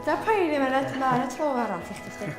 Dyna pa i ddim yn edrych na, na tro arall i chdi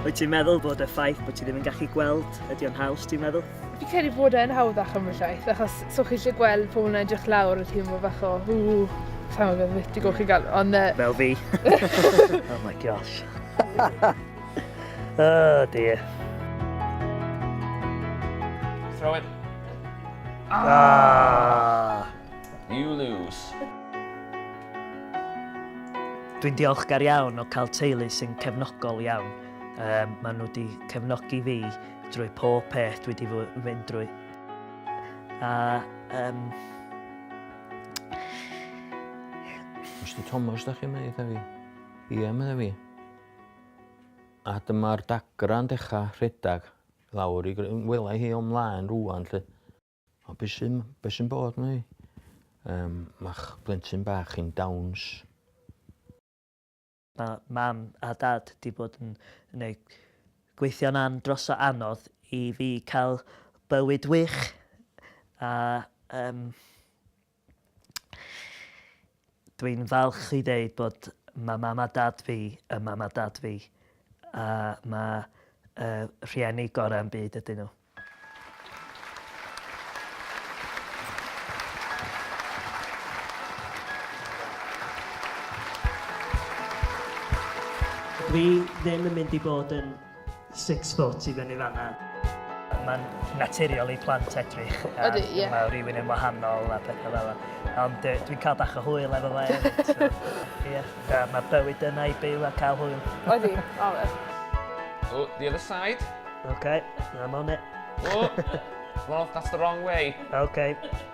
Wyt ti'n meddwl bod y ffaith bod ti ddim yn gallu gweld ydy o'n haws, ti'n meddwl? Fi credu bod e'n hawddach am y llaeth, achos so chi eisiau gweld pobl yn edrych lawr y teimlo bach o hw, sa'n meddwl beth i golchi gael, ond... Uh... Fel fi. oh my gosh. oh dear. Throw it. Ah! ah. You lose. Dwi'n diolchgar iawn o cael teulu sy'n cefnogol iawn. Um, maen nhw wedi cefnogi fi drwy pob peth dwi wedi fynd drwy. A um, Mr Thomas, da chi'n mynd eitha fi? Ie, mynd fi. A dyma'r dagra'n dechrau rhedeg lawr i wela hi o'm mlaen rwan, lle. O be' sy'n be' sy'n bod 'ma 'wan? Yym ma'ch blentyn bach chi'n dawns. Ma' mam a dad 'di bod yn neu' gweithio'n an- dros o anodd i fi ca'l bywyd wych a yym Dwi'n falch i ddeud bod ma' mam a dad fi yn mam a dad fi a ma' y rhieni gora' yn byd ydyn nhw. Dwi ddim yn mynd i bod yn Six foot i fyny fanna. Mae'n naturiol i plant edrych ar... Ydy, ie. ...ma' rywun yn wahanol a petha fel 'a. Ond yy dwi'n ca'l bach o hwyl efo fo efyd so ie. Da ma' bywyd yna i byw a ca'l hwyl. Odi, ma' fe. Oh, the other side. Ok, I'm on it. Oh, well that's the wrong way. Ok.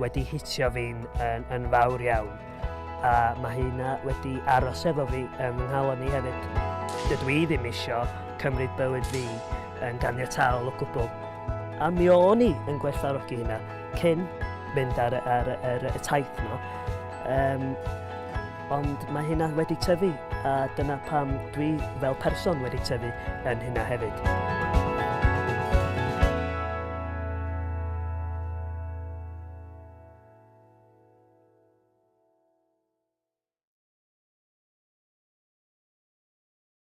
wedi hitio fi'n yn, yn fawr iawn. A mae hynna wedi aros efo fi yn fy nghalon i hefyd. Dydw i ddim isio cymryd bywyd fi yn ganiataol o gwbl. A mi o'n i yn gwerthfarogi hynna cyn mynd ar, ar, ar, ar y taith yno. Um, Ond mae hynna wedi tyfu, a dyna pam dwi fel person wedi tyfu yn hynna hefyd.